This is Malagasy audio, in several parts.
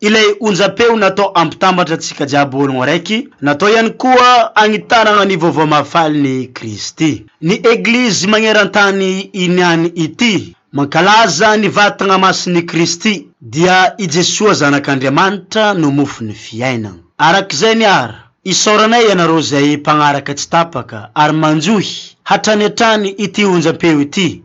Ilay onjam-peo natao hampitambatra antsika jiaby ho ologno raiky, natao ihany koa hagnitaragna ny vaovao mahafalin'i Kristy. Ny Eglizy magneran-tany iniany ity, mankalaza ny vatagna masin'i Kristy, dia i Jesoa Zanak'Andriamanitra no mofon'ny fiainagna. Arak'izay ny ara, isaoranay ianareo izay mpagnaraka tsy tapaka ary manjohy hatrany hatrany ity onjam-peo ity.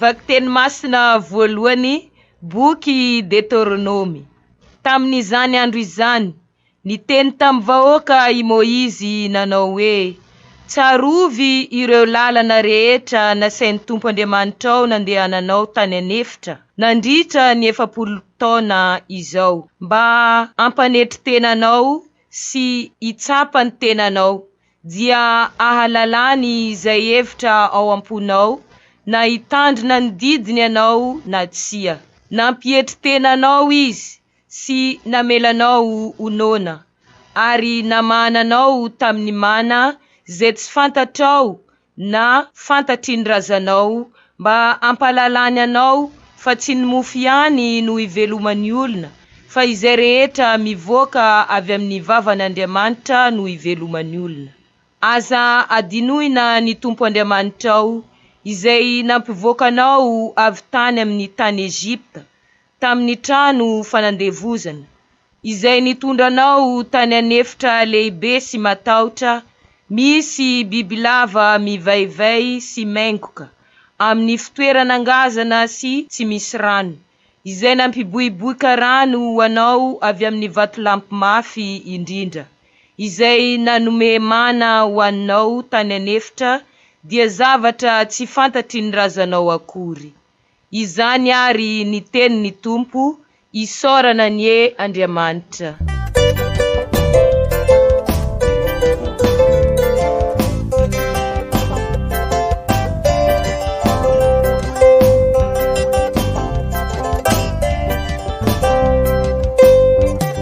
Vakiteny masina voalohany, Boky Deteronomy. Tamin'izany andro izany, Niteny tamin'ny vahoaka i Moizy nanao hoe, Tsarovy ireo lalana rehetra nasain'ny Tompo Andriamanitrao nandehananao tany an'efitra nandritra ny efapolo taona izao, mba hampanetry tena anao sy hitsapa ny tenanao, dia hahalalany izay hevitra ao am-ponao, na hitandrina ny didiny ianao na tsia. Nampietry tena anao izy, sy namela anao ho noana, ary namahana anao tamin'ny mana izay tsy fantatrao na fantatry ny razanao, mba hampahalalany anao fa tsy ny mofo ihany no hiveloman'ny olona, fa izay rehetra mivoaka avy amin'ny vavan'Andriamanitra no hiveloman'ny olona. Aza hadinoina ny Tompo Andriamanitrao, izay nampivoaka anao avy tany amin'ny tany Egypta, tamin'ny trano fanandevozana, izay nitondra anao tany an'efitra lehibe sy matahotra misy bibilava mivaivay sy maingoka, amin'ny fitoerana ngazana sy tsy misy rano, izay nampiboiboika rano ho anao avy amin'ny vatolampy mafy indrindra, izay nanome mana ho anao tany an'efitra, dia zavatra tsy fantatry ny razanao akory. Izany ary ny tenin'ny Tompo, Isaorana anie Andriamanitra.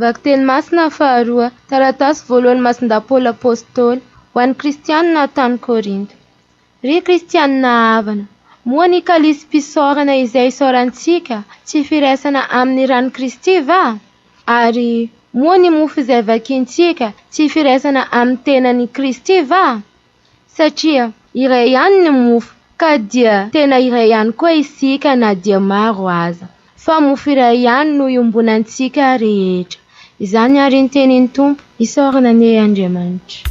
Vakiteny masina faharoa, taratasy voalohan'i Masindahy Paoly Apôstôly ho an'ny Kristianina tany Kôrinto. Ry Kristianina havana, moa ny kalisim-pisaorana izay isaorantsika tsy firaisana amin'ny ran'i Kristy va? Ary moa ny mofo izay vakintsika tsy firaisana amin'ny tenan'i Kristy va? Satria iray ihany ny mofo ka dia tena iray ihany koa isika na dia maro aza. Fa mofo iray ihany no iombonantsika rehetra. Izany ary ny tenin'ny Tompo. Isaorana anie Andriamanitra.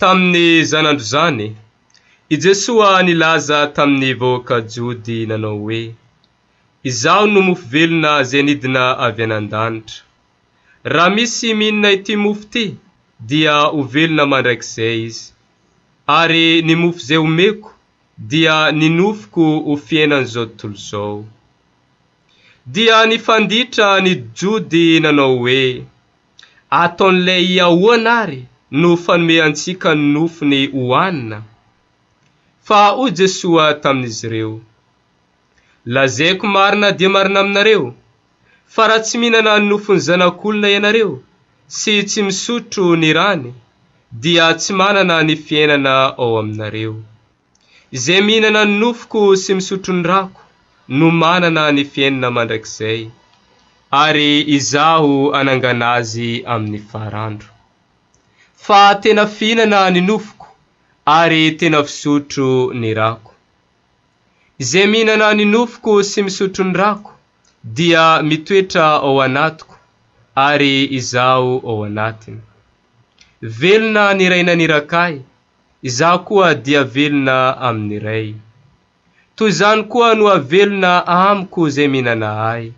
Tamin'ny izany andro izany, i Jesoa nilaza tamin'ny vahoaka Jody nanao hoe, Izaho no mofo velona izay nidina avy any an-danitra. Raha misy mihinana ity mofo ity, dia ho velona mandrakizay izy. Ary ny mofo izay homeko, dia ny nofoko ho fiainan'izao tontolo izao. Dia nifanditra ny Jody nanao hoe, Ataon'ilay ahoana àry no fanome antsika ny nofony hohanina? Fa hoy Jesoa tamin'izy ireo, Lazaiko marina dia marina aminareo, fa raha tsy mihinana ny nofon'ny Zanak'olona ianareo sy tsy misotro ny rany, dia tsy manana ny fiainana ao aminareo. Izay mihinana ny nofoko sy misotro ny rako no manana ny fiainina mandrakizay, ary Izaho hanangana azy amin'ny farandro. Fa tena fihinana ny nofoko ary tena fisotro ny rako. Izay mihinana ny nofoko sy misotro ny rako dia mitoetra ao anatiko ary Izaho ao anatiny. Velona ny Ray naniraka Ahy, Izaho koa dia velona amin'ny Ray. Toy izany koa no havelona amiko izay mihinana Ahy.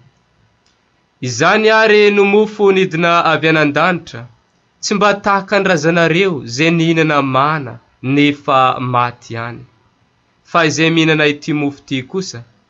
Izany àry no mofo nidina avy anan-danitra, tsy mba tahaka ny razanareo izay nihinana mana nefa maty ihany. Fa izay mihinana ity mofo ity kosa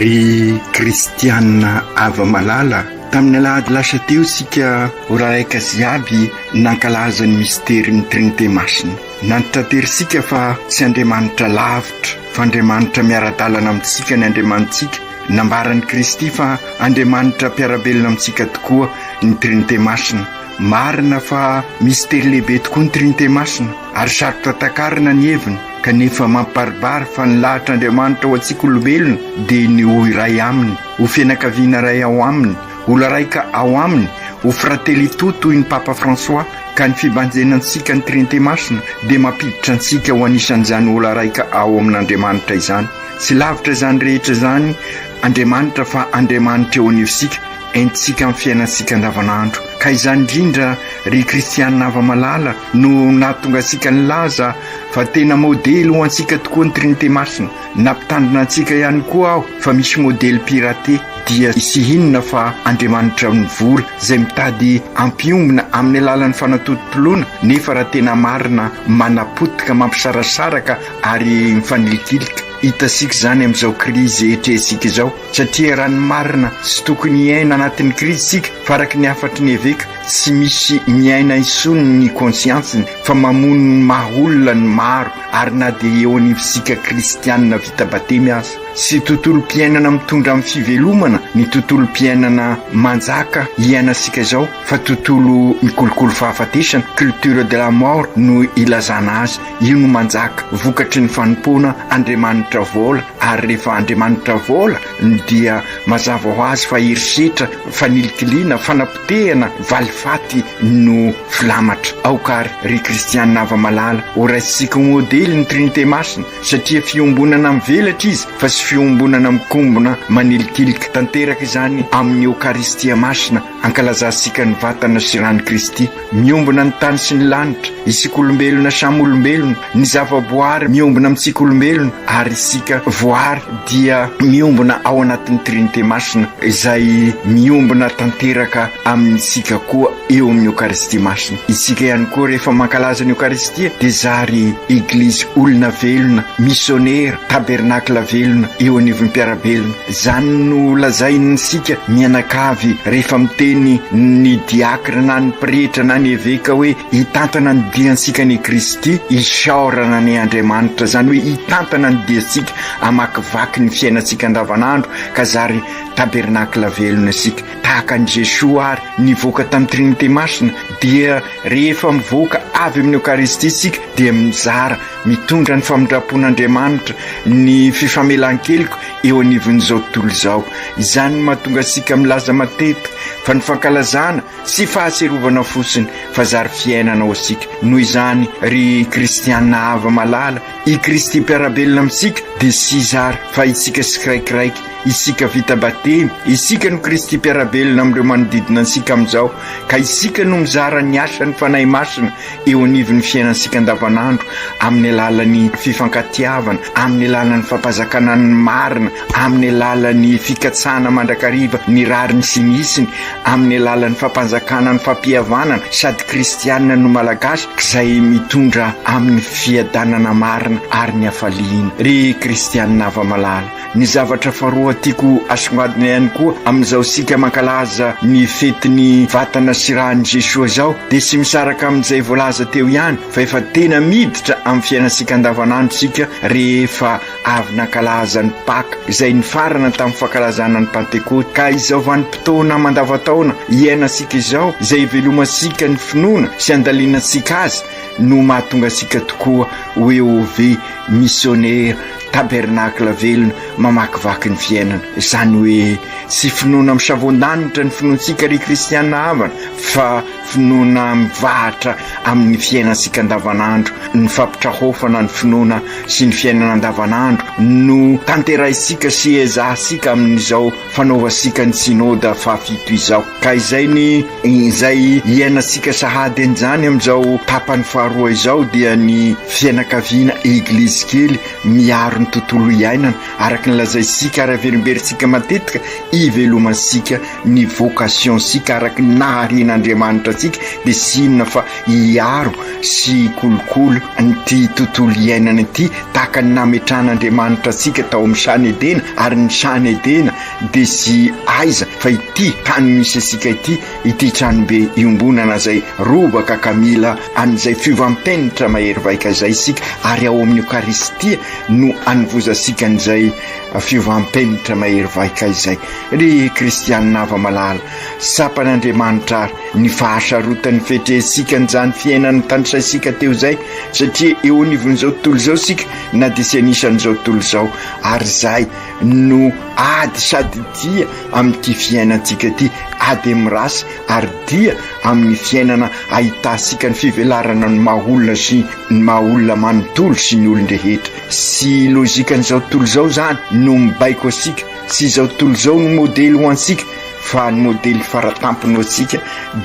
ry kristianina ava malala tamin'ny alahady lasa teo isika ho raraika sy avy nankalaza ny mistery ny trinite masina Nantitraterisika fa tsy Andriamanitra lavitra, fa Andriamanitra miara-dalana amintsika ny Andriamanitsika. Nambaran'i Kristy fa Andriamanitra mpiara-belona amintsika tokoa ny Trinite Masina. Marina fa mistery lehibe tokoa ny Trinite Masina, ary sarotra takarina ny heviny, kanefa mampibaribary fa ny lahatr'Andriamanitra ho antsika olombelona dia ny ho iray Aminy, ho fianakaviana iray ao Aminy, Olona raika ao aminy ho Fratelli Tutti hoy ny Papa François ka ny fibanjenantsika ny Trinite Masina dia mampiditra antsika ho anisan'izany ola raika ao amin'Andriamanitra izany. Tsy lavitra izany rehetra izany Andriamanitra fa Andriamanitra eo anivosika, entintsika amin'ny fiainantsika andavanandro. Ka izany indrindra ry kristiana hava-malala no nahatonga antsika nilaza fa tena modely ho antsika tokoa ny Trinite Masina. Nampitandrina antsika ihany koa aho fa misy modely piraté dia tsy hinona fa andriamanitra mivory izay mitady hampiombona amin'ny alalan'ny fanatototoloana nefa raha tena marina manapotika mampisarasaraka ary mifanilikilika. Hitantsika izany amin'izao krizy etrehintsika izao satria raha ny marina tsy tokony hiaina anatin'ny krizy isika fa araka ny hafatry ny eveka tsy misy miaina intsony ny konsiantsiny fa mamono ny maha olona ny maro ary na dia eo anivontsika kristianina vita batemy aza sy tontolom-piainana mitondra amin'ny fivelomana ny tontolom-piainana manjaka iainantsika izao fa tontolo mikolokolo fahafatesana, culture de la mort, no ilazana azy, io no manjaka vokatry ny fanompoana Andriamanitra vola ary rehefa Andriamanitra vola ny dia mazava ho azy fa herisetra, fanilikiliana, fanapotehana, valifaty no filamatra. Aoka ary, ry kristiana hava-malala, ho raisintsika ho modely ny Trinite Masina, satria fiombonana mivelatra izy fa tsy fiombonana mikombona manilikilika. Tanteraka izany amin'ny Eokaristia Masina. Ankalazantsika ny vatana sy ran'i Kristy miombona ny tany sy ny lanitra, isika olombelona samy olombelona, ny zavaboary miombona amintsika olombelona ary isika voary dia miombona ao anatin'ny Trinite Masina izay miombona tanteraka amintsika koa eo amin'ny Eokaristia Masina. Isika ihany koa rehefa mankalaza ny Eokaristia dia zary Eglizy olona velona, misionera, tabernakla velona eo anivon'ny mpiara-belona. Izany no lazain'isika mianakavy rehefa miteny ny diakra na ny pretra na ny eveka hoe hitantana ny diantsika anie Kristy, isaorana anie Andriamanitra, izany hoe hitantana ny diantsika, hamakivaky ny fiainantsika andavanandro ka zary tabernakla velona isika. Tahaka an'i Jesoa àry nivoaka tamin'ny Trinite Masina, dia rehefa mivoaka avy amin'ny Eokaristia isika dia mizara Mitondra ny famindram-pon'Andriamanitra ny fifamelan-keloka eo anivon'izao tontolo izao. Izany no mahatonga antsika milaza matetika fa ny fankalazana tsy fahatsiarovana fotsiny fa zary fiainana ho antsika. Noho izany, ry kristiana hava malala, i Kristy mpiara-belona amintsika dia tsy zary fa itsika tsiraikiraiky, itsika vita batemy. Isika no Kristy mpiara-belona amin'ireo manodidina antsika amin'izao ka isika no mizara ny asan'ny Fanahy Masina eo anivon'ny fiainantsika andavanandro amin'ny alalan'ny fifankatiavana, amin'ny alalan'ny fampazakana ny marina, amin'ny alalan'ny fikatsahana mandrakariva ny rariny sy ny hitsiny, amin'ny alalan'ny fampanjakana ny fampihavanana sady kristianina no Malagasy izay mitondra amin'ny fiadanana marina ary ny hafaliana. Ry kristianina hava-malala, Ny zavatra faharoa tiako asongadina ihany koa amin'izao isika mankalaza ny fetin'ny vatana sy ran'i Jesoa izao dia tsy misaraka amin'izay voalaza teo ihany fa efa tena miditra amin'ny fiainantsika andavanandro isika rehefa avy nankalaza ny Paka izay nifarana tamin'ny fankalazana ny Pantekoty ka izao vanim-potoana mandavantaona iainantsika izao izay ivelomantsika ny finoana sy andalinantsika azy no mahatonga antsika tokoa ho Eove missionnaire Tabernacle velona mamakivaky ny fiainana. Izany hoe tsy finoana misavoan-danitra ny finoantsika ry kristiana havana fa finoana mivahatra amin'ny fiainantsika andavanandro. Ny fampitrahofana ny finoana sy ny fiainana andavanandro no tanterahintsika sy ezahintsika amin'izao fanaovantsika ny synoda fahafito izao ka izay ny izay iainantsika sahady an'izany amin'izao tapany faharoa izao dia ny fianakaviana eglizy kely miaro ny tontolo iainana araka ny lazaintsika ary averimberintsika matetika ivelomantsika ny vocationtsika araka ny naharian'Andriamanitra antsika dia sinona fa hiaro sy kolokolo an'ity tontolo iainana ity tahaka ny nametrahan'Andriamanitra antsika tao amin'ny Sany Edena, ary ny Sany Edena dia tsy aiza fa ity tany misy antsika ity, ity tranobe iombonana izay robaka ka mila an'izay fiovam-penitra mahery vaika izay isika, ary ao amin'ny Eokaristia no anovozantsika an'izay fiovam-penitra mahery vaika izay. Ry kristianina afa-malala, tsapan'Andriamanitra àry ny fahasarotan'ny fetrehintsika an'izany fiainana tanisaintsika teo izay, satria eo anivon'izao tontolo izao isika na dia tsy anisan'izao tontolo izao ary izay no ady sady dia amin'ity fiainantsika ity ady amin'ny race ary dia amin'ny fiainana ahitantsika ny fivelarana ny maha olona sy ny maha olona manontolo sy ny olon-drehetra sy logikan'izao tontolo izao izany no mibaiko antsika sy izao tontolo izao no modely ho antsika fa ny modely faratampony ho antsika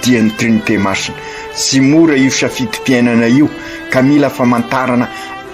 dia ny trinité masina Tsy mora io safidim-piainana io ka mila famantarana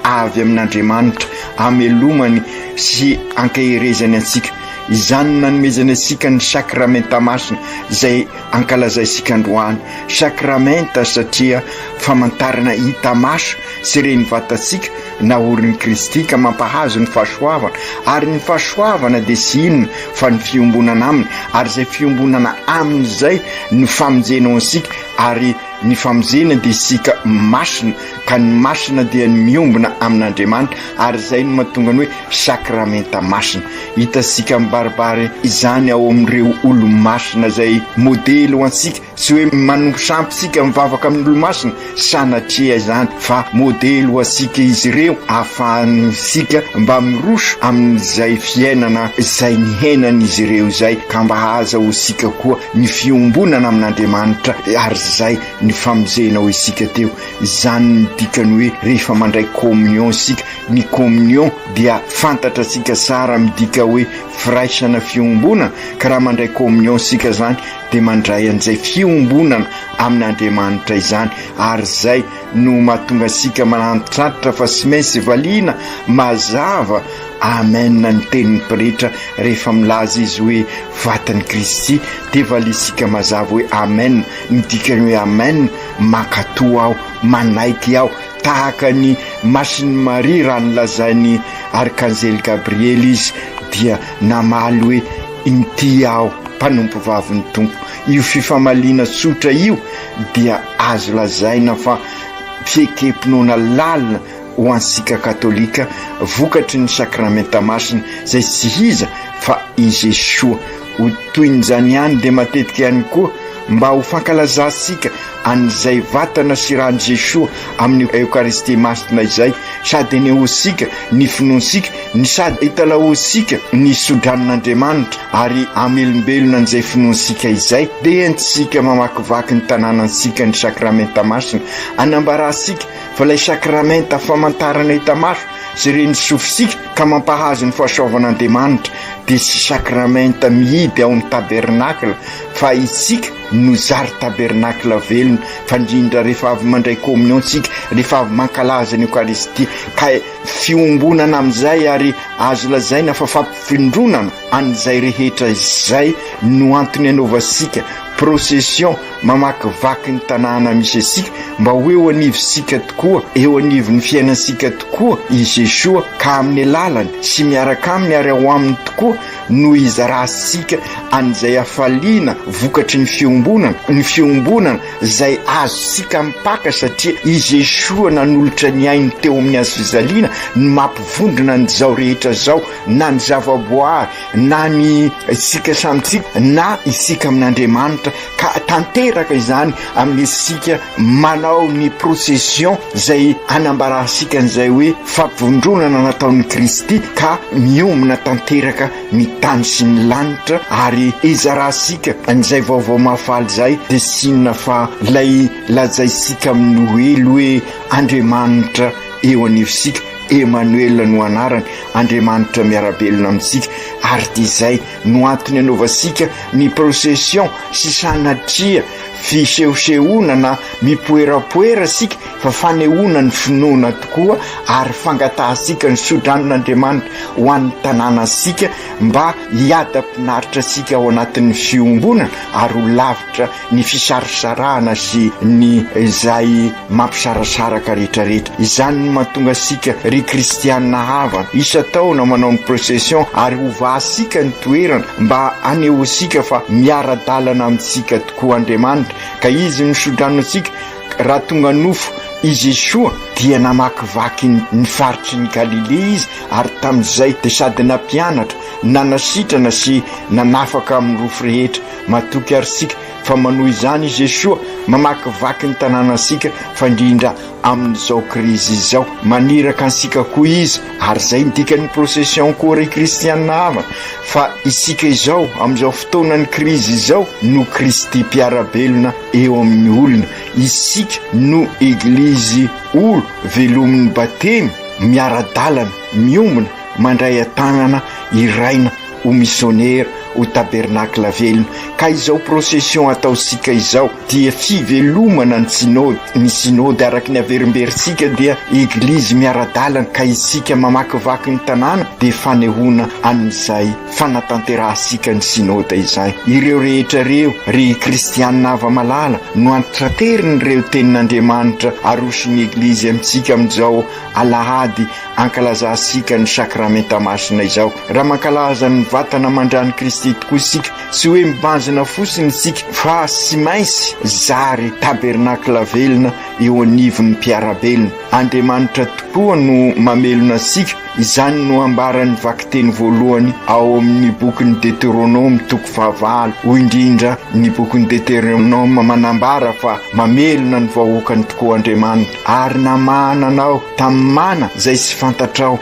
avy amin'Andriamanitra hamelomany sy hankaherezany antsika. Izany no nanomezany antsika ny Sakramenta Masina izay ankalazaintsika androany. Sakramenta satria famantarana hita maso sy ren'ny vatantsika Naorin'i Kristy ka mampahazo ny fahasoavana, ary ny fahasoavana dia tsy inona fa ny fiombonana Aminy, ary izay fiombonana Aminy izay no famonjena ho antsika, ary ny famonjena dia isika masina, ka ny masina dia ny miombona amin'Andriamanitra, ary izay no mahatonga ny hoe sakramenta masina. Hitantsika mibaribary izany ao amin'ireo olo-masina izay modely ho antsika. Tsy hoe manompo sampy isika mivavaka amin'ny olomasina sanatria izany fa modely ho antsika izy ireo ahafahantsika mba miroso amin'izay fiainana izay niainan'izy ireo izay ka mba aza ho isika koa ny fiombonana amin'Andriamanitra ary izay ny famonjena ho isika teo izany ny dikany hoe rehefa mandray communion isika ny communion dia fantatra tsika tsara midika hoe firaisana fiombonana ka raha mandray communion isika izany dia mandray an'izay fiombonana amin'Andriamanitra izany, ary izay no mahatonga antsika mahantratra fa tsy maintsy valiana mazava amen ny tenin'ny pretra rehefa milaza izy hoe vatan'i Kristy dia valiantsika mazava hoe amen, ny dikany hoe amen, mankatò aho, manaiky aho, tahaka ny masin'i Maria raha nolazain'ny arkanjely Gabriely izy dia namaly hoe Inty aho, mpanompovavin'ny Tompo. Io fifamaliana tsotra io dia azo lazaina fa fiekem-pinoana lalina ho antsika Katolika, vokatry ny Sakramenta Masina, izay tsy iza fa i Jesoa. Ho tohin'izany ihany dia matetika ihany koa, Mba ho fankalazantsika an'izay vatana sy ran'i Jesoa amin'ny Eokaristia Masina izay, sady enehoantsika ny finoantsika, no sady italahoantsika ny sodranon'Andriamanitra ary hamelombelona an'izay finoantsika izay, dia entintsika mamakivaky ny tanànantsika ny Sakramenta Masina, hanambarantsika fa ilay Sakramenta famantarana hita maso sy ren'ny sofintsika ka mampahazo ny fahasoavan'Andriamanitra dia tsy Sakramenta mihidy ao amin'ny Tabernakla, fa isika no zary tabernacle velona fa indrindra rehefa avy mandray communion tsika rehefa avy mankalaza ny eucharistie ka fiombonana amin'izay ary azo lazaina fa fampifindronana an'izay rehetra izay no antony anaovasika procession mamakivaky ny tanàna misy asika mba ho eo anivosika tokoa eo anivon'ny fiainantsika tokoa i Jesoa ka amin'ny alalany sy miaraka aminy ary ao aminy tokoa no hizaransika an'izay hafaliana vokatry ny fiombonana, ny fiombonana izay azontsika mipaka satria i Jeshoa nanolotra ny ainy teo amin'ny hazo fijaliana ny mampivondrona an'izao rehetra izao, na ny zavaboary, na ny isika samy isika, na isika amin'Andriamanitra. ka tanteraka izany amin'ny isika manao ny procession izay anambarantsika an'izay hoe fampivondronana nataon'i Kristy ka miomana tanteraka ny tany sy ny lanitra ary izarantsika an'izay vaovao mahafaly izay dia sinona fa ilay lazaintsika amin'ny Noely hoe Andriamanitra eo anivontsika Emanoela no anarany Andriamanitra miara-belona amintsika ary dia izay no antony anaovasika ny procession sy sanatria fisehosehoana na mipoerapoera sika fa fanehoana ny finoana tokoa ary fangatahantsika ny sodranon'Andriamanitra ho an'ny tanànantsika mba hiadam-pinaritra antsika ao anatin'ny fiombonana ary ho lavitra ny fisarosarahana sy ny izay mampisarasaraka rehetrarehetra. Izany no mahatonga antsika, ry Kristianina havana, isan-taona manao ny procession ary hovahantsika ny toerana mba hanehoantsika fa miara-dalana amintsika tokoa Andriamanitra, ka Izy no sodrano antsika, raha tonga nofo i Jesoa dia namakivaky ny faritry ny Galilea Izy ary tamin'izay dia sady nampianatra, nanasitrana sy nanafaka amin'ny nofo rehetra. Matoky ary isika fa manohy izany i Jesoa, mamakivaky ny tanànantsika fandrindra amin'izao krizy izao. Maniraka antsika koa Izy, ary izay no dikan'ny Procession koa ry kristiana havana, fa isika izao, amin'izao fotoanan'ny krizy izao, no Kristy mpiara-belona eo amin'ny olona. Isika no Eglizy olo velomin'ny Batemy, miara-dalana, miombona, mandray an-tanana, hiraina. ho misionera, ho tabernacle velona, ka izao procession ataontsika izao dia fivelomana ny synode, ny synode araka ny averimberintsika dia eglizy miara-dalana, ka isika mamakivaky ny tanàna dia fanehoana an'izay fanatanterahantsika ny synode izay, ireo rehetra ireo ry kristianina hava-malala no antrateriny ireo tenin'Andriamanitra aroson'ny eglizy amintsika amin'izao alahady Ankalazantsika ny Sakramenta Masina izao raha mankalaza ny vatana aman-dran'i Kristy tokoa isika, tsy hoe mibanjina fotsiny isika fa tsy maintsy zary tabernakla velona eo anivon'ny mpiara-belona. Andriamanitra tokoa no mamelona antsika, izany no ambaran'ny vakiteny voalohany ao amin'ny bokin'ny Deteronoma toko fahavalo, hoy indrindra ny bokin'ny Deteronoma manambara fa mamelona ny vahoakany tokoa Andriamanitra ary namahana anao, tamin'ny mana izay tsy fantatrao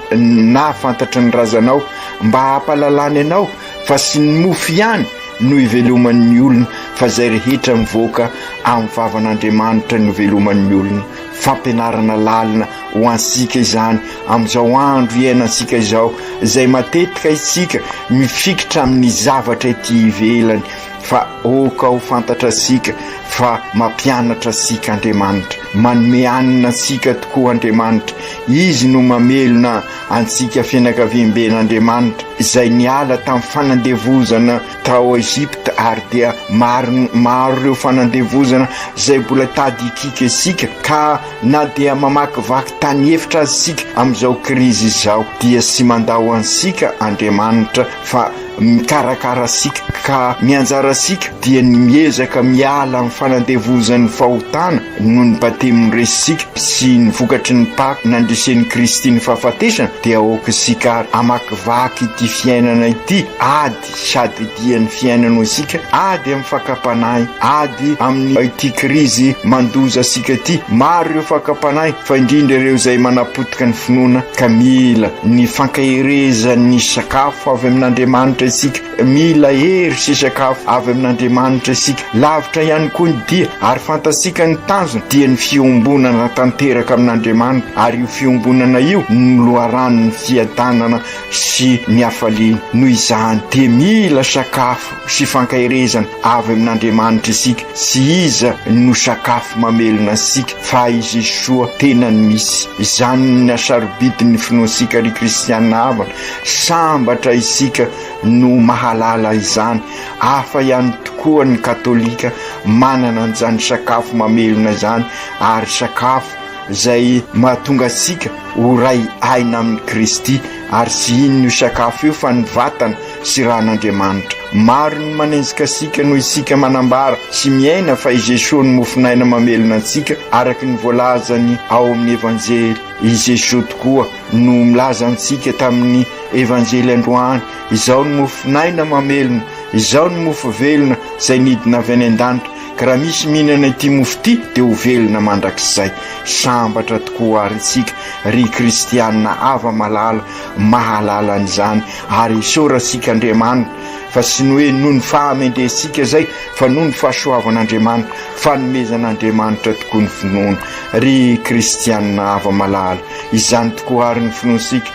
na fantatry ny razanao mba hampalalany anao fa sy ny mofo ihany no iveloman'ny olona fa izay rehetra mivoaka amin'ny vavan'Andriamanitra no iveloman'ny olona. Fampianarana lalina ho antsika izany amin'izao andro iainantsika izao izay matetika isika mifikitra amin'ny zavatra ety ivelany fa aoka ho fantatra antsika fa mampianatra antsika Andriamanitra, manome hanina antsika tokoa Andriamanitra, Izy no mamelona antsika fianakaviamben'Andriamanitra izay niala tamin'ny fanandevozana tao Egypta ary dia maro maro ireo fanandevozana izay mbola tady hikiky antsika ka na dia mamakivaky tany efitra aza isika amin'izao krizy izao dia tsy mandao antsika Andriamanitra fa mikarakara antsika ka ny anjarantsika dia ny miezaka miala amin'ny fanandevozan'ny fahotana noho ny Batemy noresitsika sy ny vokatry ny Paka nandresen'i Kristy ny fahafatesana dia aoka isika ary hamakivaky ity fiainana ity ady sady dian'ny fiainana ho antsika ady amin'ny fakam-panahy ady amin'ny ity krizy mandoza antsika ity maro ireo fakam-panahy fa indrindra ireo izay manapotika ny finoana ka mila ny fankaherezan'ny sakafo avy amin'Andriamanitra isika, mila hery sy sakafo avy amin'Andriamanitra isika. Lavitra ihany koa ny dia, ary fantatsika ny tanjona, dia ny fiombonana tanteraka amin'Andriamanitra, ary io fiombonana io no loharanon'ny fiadanana sy ny hafaliana. Noho izany dia mila sakafo. sy fankaherezana avy amin'Andriamanitra isika sy iza no sakafo mamelona antsika fa i Jesoa tenany misy. Izany ny hasarobidin'ny finoantsika ry kristiana havana. Sambatra isika no mahalala izany. Hafa ihany tokoa ny katolika manana an'izany sakafo mamelona izany ary sakafo izay mahatonga antsika ho ray aina amin'i Kristy ary tsy inona io sakafo io fa ny vatana sy ran'Andriamanitra. Maro ny manenjika antsika noho isika manambara sy miaina fa i Jesoa no mofon'aina mamelona antsika araka ny voalazany ao amin'ny Evanjely. I Jesoa tokoa no milaza antsika tamin'ny Evanjely androany, Izaho no mofon'aina mamelona, Izaho no mofo velona izay nidina avy any an-danitra, ka raha misy mihinana ity mofo ity dia ho velona mandrakizay. Sambatra tokoa àry isika, ry kristiana hava-malala, mahalala an'izany ary isaorantsika Andriamanitra fa tsy ny hoe noho ny fahamendrehantsika izay fa noho ny fahasoavan'Andriamanitra, fanomezan'Andriamanitra tokoa ny finoana. Ry kristianina hava-malala, izany tokoa àry ny finoantsika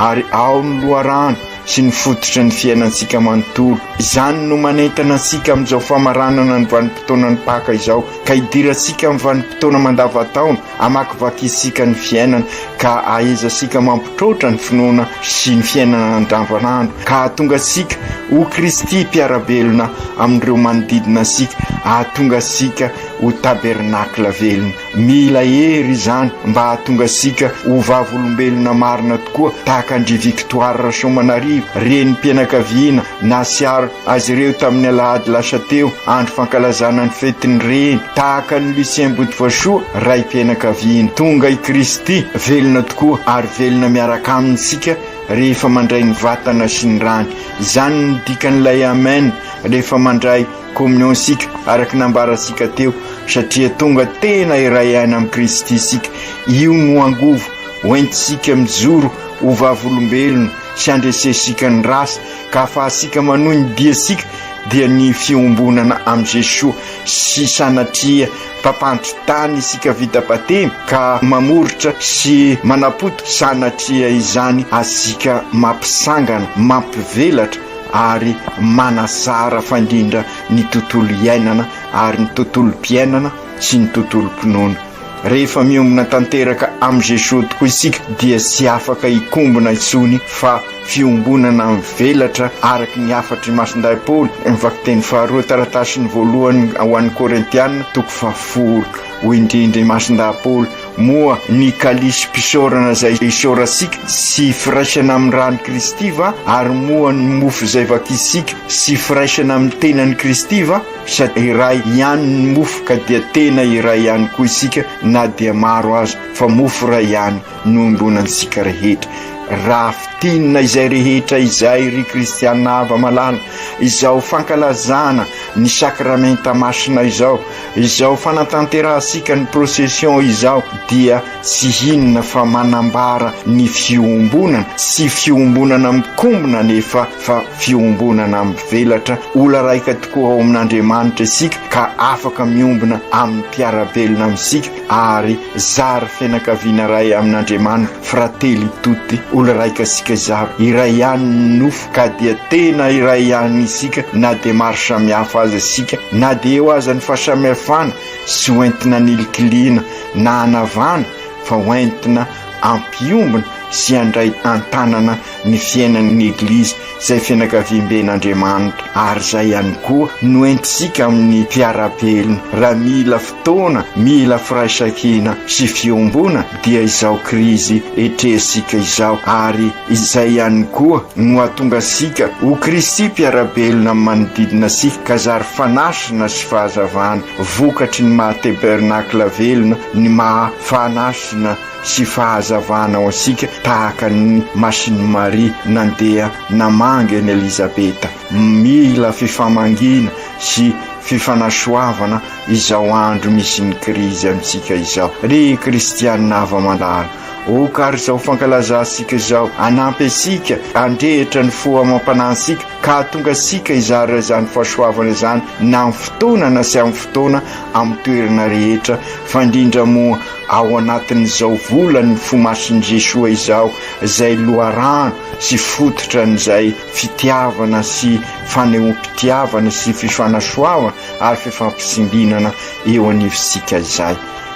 ary ao ny loharano sy ny fototry ny fiainantsika manontolo. Izany no manentana antsika amin'izao famaranana ny vanim-potoanan'ny Paka izao ka hidirantsika amin'ny vanim-potoana mandavan-taona, Hamakivaky isika ny fiainana ka ahaiza sika mampitroatra ny finoana sy ny fiainana andavanandro ka hahatonga sika ho Kristy mpiara-belona amin'ireo manodidina sika, hahatonga sika ho tabernacle velona. Mila hery izany mba hahatonga sika ho vavolombelona marina tokoa tahaka an-dry Victoire Rasoamanarivo, renim-pianakaviana, Nahatsiaro azy ireo tamin'ny alahady lasa teo, andro fankalazana ny fetin'ny reny. Tahaka an'i Lucien Botovasoa, raim-pianakaviana. Tonga i Kristy, velona tokoa, ary velona miaraka aminy isika rehefa mandray ny vatana sy ny rany. Izany no dikan'ilay Amen rehefa mandray Communion isika, araka ny nambarantsika teo, satria tonga tena iray aina amin'i Kristy isika. Io no angovo hoentintsika mijoro ho vavolombelona. tsy handresensika ny ratsy ka hahafahantsika manohy ny diantsika dia ny fiombonana amin'i Jesoa sy sanatria mpampandry tany isika vita batemy ka mamoritra sy manapotika sanatria izany atsika mampisangana, mampivelatra ary manazara fandrindra ny tontolo iainana ary ny tontolom-piainana sy ny tontolom-pinoana. Rehefa miombona tanteraka amin'i Jesoa tokoa isika dia tsy afaka hikombona intsony fa fiombonana mivelatra araka ny hafatry ny Masindahy Paoly, ny Vakiteny faharoa taratasiny voalohany ho an'ny Korintiana, toko fahafolo. Hoy indrindra i Masindahy Paoly, Moa ny kalisim-pisaorana izay isaorantsika tsy firaisana amin'ny ran'i Kristy va? Ary moa ny mofo izay vakintsika tsy firaisana amin'ny tenan'i Kristy va? Sady iray ihany ny mofo ka dia tena iray ihany koa isika na dia maro aza fa mofo iray ihany no iombonantsika rehetra. Raha fintinina izay rehetra izay ry kristiana hava malala, izao fankalazana ny sakramenta masina izao, izao fanatanterahantsika ny procession izao dia Tsy inona fa manambara ny fiombonana, tsy fiombonana mikombona anefa fa fiombonana mivelatra. Ola raika tokoa ao amin'Andriamanitra isika ka afaka miombona amin'ny mpiara-belona amintsika ary zary fianakaviana iray amin'Andriamanitra, fratelli tutti, ola raika isika zary, iray ihany ny nofo ka dia tena iray ihany isika na dia maro samihafa aza isika, na dia eo aza ny fahasamihafana sy ho entina nilikiliana. na hanavana fa ho entina ampiombona sy handray an-tanana ny fiainan'ny Eglizy izay fianakaviamben'Andriamanitra ary izay ihany koa no entintsika amin'ny mpiara-belona raha mila fotoana, mila firaisankina sy fiombona dia izao krizy etrehintsika izao ary izay ihany koa no hahatonga antsika ho Kristy mpiara-belona amin'ny manodidina antsika ka zary fanasina sy fahazavana. Vokatry ny maha tebernacle velona ny maha fanasina sy fahazavana ho antsika tahaka ny masin'i Maria nandeha namangy an'i Elizabeta. Mila fifamangiana sy fifanasoavana izao andro misy ny krizy amintsika izao. Ry kristiana hava-mandala, oka ary izao fankalazantsika izao hanampy antsika handrehitra ny fo amam-panantsika ka hahatonga antsika hizara izany fahasoavana izany na amin'ny fotoana na tsy amin'ny fotoana amin'ny toerana rehetra fa indrindra moa ao anatin'izao volan'ny fo masin'i Jesoa izao izay loharano sy fototra an'izay fitiavana sy fanehoam-pitiavana sy fifanasoavana ary fifampitsimbinana eo anivontsika izay.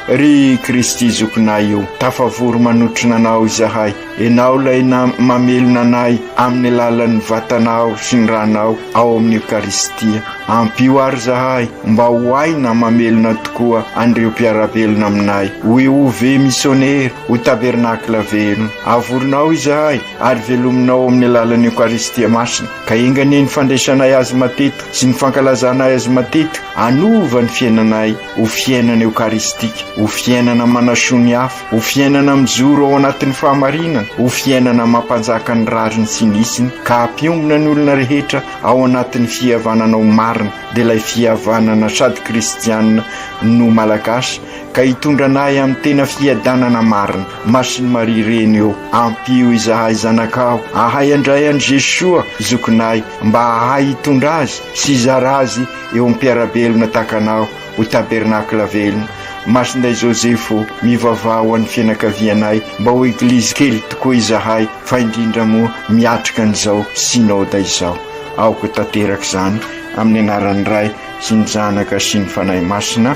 Ry Kristy Zokinay o, tafavory manotrona Anao izahay. Enao lay na mamelona anay amin'ny alalan'ny vatanao sy ny ranao ao amin'ny Ekaristia. Ampio ary zahay mba ho hay na mamelona tokoa an'ireo mpiara-belona aminay. Ho EOV misionera, ho tabernakla velona. Avorinao izahay ary velominao amin'ny alalan'ny Ekaristia Masina. Ka enga anie ny fandraisanay Azy matetika sy ny fankalazanay Azy matetika hanova ny fiainanay. ho fiainana eokaristika, ho fiainana manasoa ny hafa, ho fiainana mijoro ao anatin'ny fahamarinana, ho fiainana mampanjaka ny rariny sy ny isiny ka hampiombona ny olona rehetra ao anatin'ny fihavananao marina, dia ilay fihavanana sady kristianina no malagasy ka hitondra anay amin'ny tena fiadanana marina. Masin'i Maria Reny ô, ampio izahay zanakao ahay handray an'i Jesoa Zokinay mba hahay hitondra azy sy hizara azy Eo am-piara-belona takanao ho tabernakla velona, Masindahy Joseph o, mivavaha ho an'ny fianakavianay mba ho Eglizy kely tokoa izahay fa indrindra moa miatrika an'izao Synoda izao. Aoka tanteraka izany amin'ny anaran'ny Ray sy ny Zanaka sy ny Fanahy Masina.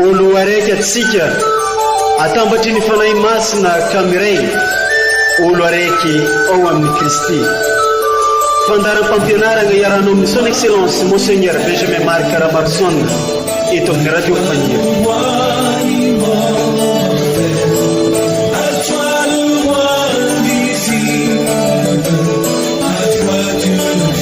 O Loharaiky atsika, atambatry ny Fanahy Masina ka miray, olo araiky ao amin'i Kristy. Fandaharam-pampianaragna iarahanao amin'ny Son Excellence Monseigneur Benjamin Marc Ramaroson eto amin'ny Radio Fania.